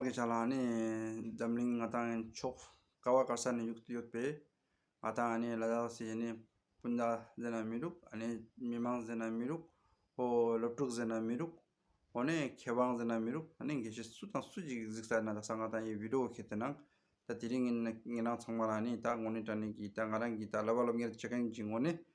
ངེད་ཅག་ལ་ནི་འཛམ་གླིང་ང་དང་ཕྱོགས་ག་བ་ག་ས་ནས་ཡོད་ཡོད་པས་ང་དང་ནི་ལ་དྭགས་སུ་ཡིན་ནི་སྤུན་ཟླ་ཟེར་ན་མི་འགྲུབ་ནི་མི་དམངས་ཟེར་ན་མི་འགྲུབ་ཨོ་སློབ་ཕྲུག་ཟེར་ན་མི་འགྲུབ་ཨོ་ནི་མཁས་དབང་ཟེར་ན་མི་འགྲུབ་ཨ་ནི་དགེ་བཤེས་སུ་དང་སུ་ཞིག་གཟིགས་ས་ན་ད་ས་ང་དང་ཡི་བི་ཀྲོ་བོ་ཁེ་ཏེ་ན་ད་དེ་རིང་ངེད་རང་ཚང་མ་ལ་ནི་ད་ངོ་ནི་དྲ་གནས་ཀྱིས་ད་ང་རང་གིས་ད་ལ་བ་སློབ་གཉེར་བྱེད་མཁན་གྱི་ངོ་ནི་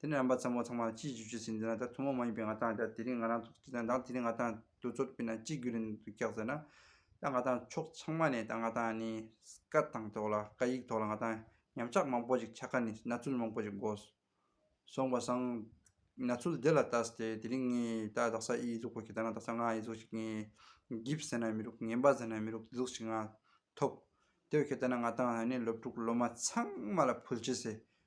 དེ་ནས་རམ་པ་ཚང་མ་ཚང་མ་ལ་ཅིའི་ཞིབ་བཤེར་བྱེད་འདི་ན་ད་ཐུན་མོང་མ་ཡིན་པའི་ང་ཐང་དེ་རིང་ང་རང་ཚོ་ཁྲི་དང་དང་དེ་རིང་ང་ཐང་དུ་ཚོ་དཔེ་ན་ཅི་རྒྱུ་རེད་འདུག་རྒྱག་ཟེར་ན། ད་ང་ཐང་ཕྱོགས་ཚང་མ་ནས་ད་ང་ཐང་ནི་སྐད་གདངས་ཐོག་ལ་སྐད་ཡིག་ཐོག་ལ་ང་ཐང་ཉམས་ཆག་མང་པོ་ཞིག་ཆག་ཁ་ནི་ན་ཚུལ་མང་པོ་ཞིག་གོ་སོང་བ་སང། ན་ཚུལ་དེ་ལ་ལྟ་སྟེ་དེ་རིང་ངས་ད་རྡ་ས་ཨི་གཟུགས་པོ་ཞིག་ད་ན་རྡ་ས་ང་ཨི་གཟུགས་ཞིག་ངས་འགིབ་ཟེར་ན་མི་རུག་ངན་པ་ཟེར་ན་མི་རུག་དེ་གཟུགས་ཞིག་ང་ཐོབ། དེ་བས་ཁྱོད་ལྟ་ན་ང་ཐང་ནི་སློབ་ཕྲུག་སློབ་མ་ཚང་མ་ལ་ཕུལ་བྱས་སེ་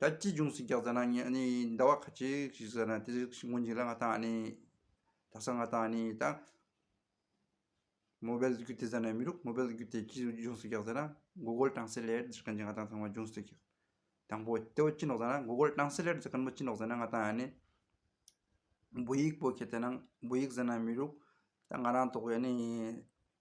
ད་ཅི་འབྱུང་ཟིག་རྒྱག་ཟེར་ན་ངས་ནི་ཟླ་བ་ཁ་ཅིག་ཞིག་ཟེར་ན་དེ་ཟིག་ཞིག་ངོ་འཇིག་ལ་ང་ད་ནི་ད་ས་ང་ད་ནི་ད་མོ་བལ་རྒྱུ་དེ་ཟེར་ནས་མི་རུག་མོ་བལ་རྒྱུ་དེ་ཅི་འབྱུང་ཟིག་རྒྱག་ཟེར་ན་མགོ་སྒོལ་གྲང་སའི་ལེར་འཛེར་མཁན་གྱི་ང་ད་ཚང་མ་འབྱུང་ཟིག་རྒྱག། དང་པོ་དེ་བས་ཅི་འདོགས་ཟེར་ན་མགོ་སྒོལ་གྲང་སའི་ལེར་འཛེར་མཁན་མོ་ཅི་འདོགས་ཟེར་ན་ང་ད་ནི་འབུ་ཡིག་སྤོ་ཁྱེད་དེ་ན་འབུ་ཡིག་ཟེར་ན་མི་རུག་ད་ང་རང་དོགས་པས་ནི།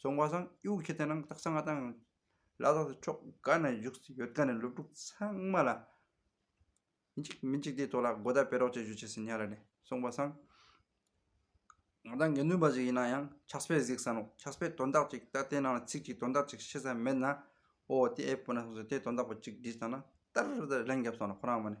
སོང་བ་སང་དབྱུག་ཁྱི་དེ་ནང་བཏགས་སང་ང་དང་བླ་ལྷག་ཏུ་ཕྱོགས་འགའ་ན་བཞུགས་སུ་ཡོད་དགའ་ནས་སློབ་ཕྲུག་ཚང་མ་ལ། འཇིགས་མི་འཇིགས་དེའི་ཐོག་ལ་དགོད་བརྡ་སྤེལ་རོགས་བྱེད་ཞུ་བྱས་ཟིན་ཡ་རེད་ནས་སོང་བ་སང། ང་དང་དགེ་འདུན་པ་ཞིག་ཡིན་ན་ཡང་ཕྱག་སྤེལ་གཟིགས་སམ་རོགས་ཕྱག་སྤེལ་དོན་དག་ཅིག་ད་ལྟའི་ནང་ལ་ཚིག་ཅིག་དོན་དག་ཅིག་ཤེས་ས་མེད་ན། ཨོ་དེ་ཨེ་སྤོ་ན་སོང་ཟེར་དེ་དོན་དག་པོ་ཅིག་བྲིས་བཏང་ན་ཏར་ཏར་ལན་བརྒྱབ་སོང་ལ་ཁོ་རང་མ་ནས།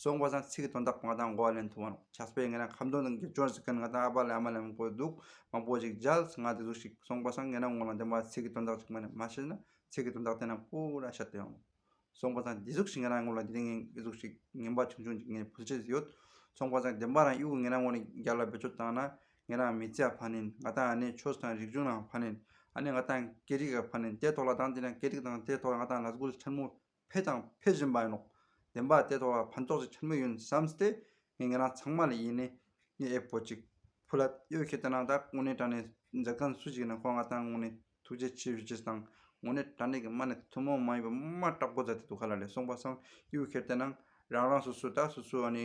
སོང་བ་དང་ཚིག་དོན་དག་པ་དང་གོ་ལེན་ཐུབ་པ་ཆགས་པས་ངས་རང་ཁམས་དོན་དང་དགེ་སྦྱོར་ཟེར་མཁན་ང་དང་ཨ་ཕ་ལས་ཨ་མ་ལས་མང་པོ་འདུག་མང་པོ་ཞིག་བརྒྱལ་ང་དེ་ཟུག་ཞིག་སོང་བ་དང་ངས་རང་ངོ་ལ་འདེམས་པ་ཚིག་དོན་དག་ཅིག་མ་ནས་མ་བཤད་ན་ཚིག་དོན་དག་དེ་རྣམས་སྤུ་ར་བཤད་དུ་ཡོང། སོང་བ་དང་དེ་ཟུག་ཞིག་ངས་རང་ངོ་ལ་དེ་ངའི་དགེ་ཟུག་ཞིག་ངན་པ་ཆུང་ཆུང་ཅིག་ངས་ཕུལ་བྱེད་ཡོད། སོང་བ་དང་བདེན་པ་རང་གཡུག་གི་ངས་རང་ངོ་ལ་རྒྱ་ལ་བེད་སྤྱོད་བཏང་ན་ངས་རང་མི་ཚེ་ཡང་ཕ་ནིན་ང་དང་ཨ་ནེ་ཆོས་དང་རིག་གཞུང་ལའང་ཕ་ནིན་ཨ་ནེ་ང་དང་སྐད་རིགས་ལ་ཕ་ནིན་དེའི་ཐོག་ལ་དང་དེ་ནས་སྐད་རིགས་དང་དེའི་ཐོག་ལ་ང་དང་ལ་སྒོར་ཆེན་མོ་འཕེལ་དང་འཕེལ་བཞིན་པ་ཡིན་ནོ། བདེན་པ་སྟེ་དོགས་ལ་ཕན་ཐོགས་ཅིག་འཁྱེར་མོད་ཡིན་བསམ་སྟེ། ངས་ངེད་རང་ཚང་མ་ལ་ཡིན་ནས་ངས་ཨེ་བོད་ཅིག། བུ་ལ་གཡོ་ཁྱེད་དེ་རྣམས་ད་དངོས་གནས་དྲ་གནས་མཛད་མཁན་སུ་ཞིག་ཡིན་ན་ཁོ་ང་དང་དངོས་གནས་ཐུགས་རྗེ་ཆེ་ཞུ་ཅིག་དང་དངོས་གནས་དྲ་གནས་ཀྱི་མ་ནས་ཐུན་མོང་མ་ཡིན་པའི་མ་སྐྲག་སྒོ་རྫ་དེ་དུ་ག་ལ་ལས་སོང་བ་སང་གཡོ་ཁྱེར་དེ་རྣམས་རང་རང་སོ་སོའི་ད་སོ་སོའི་ཨ་ནི།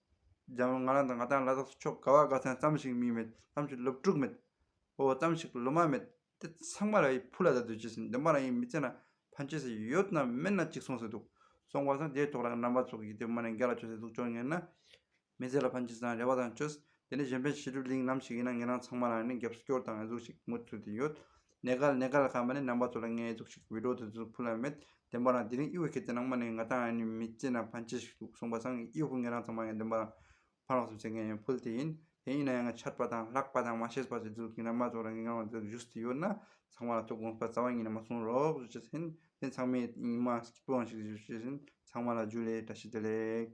འཇམ་ལོ་ང་རང་དང་ང་དང་ལ་དྭགས་སུ་ཕྱོགས་ག་བ་ག་ཚང་ཙམ་ཞིག་མིང་མེད་ཙམ་ཞིག་སློབ་ཕྲུག་མེད་འོ་ཙམ་ཞིག་སློབ་མ་མེད་དེ་ཚང་མ་ར་ཡི་བུ་ལ་ད་དུས་ཆེ་ཟིན་འདོན་པ་རང་ཡིན་མི་ཚེ་ན་ཕན་ཆེ་ཟིག་ཡོད་ན་མེད་ན་ཅིག་སོང་ཟེར་འདུག་སོང་བ་སོང་དེའི་ཐོག་ལ་རྣམ་པ་ཚོགས་ཀྱིས་དེ་མ་ནས་འགལ་ལ་ཆོས་ཟེར་འདུག་ཅོ་ངེད་ནི་མི་ཚེ་ལ་ཕན་ཆེ་ཟིན་རེ་བ་དང་ཆོས་དེ་ནི་གཞན་ཕན་བྱེད་སྒྲུབ་གླིང་ལམ་ཞིག་ཡིན་ན་ངེད་རང་ཚང་མ་ལ་ནི་རྒྱབ་སྐྱོར་དང་གཟུགས་ཤིག་མུ་མཐུད་དེ་ཡོད་ནད་ཀ་ལ་ནད་ཀ་ལ་ཁ་མ་ནི་ནང་པ་ཚོ་ལ་ངའི་གཟུགས་ཤིག་བུད་འགྲོ་དེ་ཚོ་ཕུ་ལ་མེད་བདེན་པ་རང་དེ་རིང་དབྱི་བོ་ཁྱེད་ཚོའི་ནང་མ་ནི་ང་དང་ཨ་ནུའི་མི་གཅིག་ན་ཕ་འཆི་ཞིག་འདུག་གསུངས་པ་སང་ངས་དབྱི་བོ་ངེད་རང་ཚང་མ་ཡང་བདེན་པ་རང་ཕ་ལོག་སེམས་ཆེ་མཁན་ཡང་ཕུལ་དེ་ཡིན་དེ་ཡིན་ན་ཡང་ང་ཆར་པ་དང་ལྷག་པ་དང་མ་ཤེས་པ་ཚོའི་གཟུགས་ཀྱི་ནང་མ་ཚོ་ལ་ངེད་རང་ལ་འདིར་བཞུགས་སུ་ཡོད་ན་ཚང་མ་ལ་ཐུགས་དགོངས་པ་རྩ་བ་ཉིད་ནས་མ་གསུང་རོགས་ཞུ་བྱེད་ཟིན་དེ་ཚང་མས་ཉི་མ་སྐྱིད་པོའང་ཞིག་ཞུ་བྱེད་ཟིན་ཚང་མ་ལ་རྒྱུས་ལས་བཀྲ་ཤིས་བདེ་ལེགས།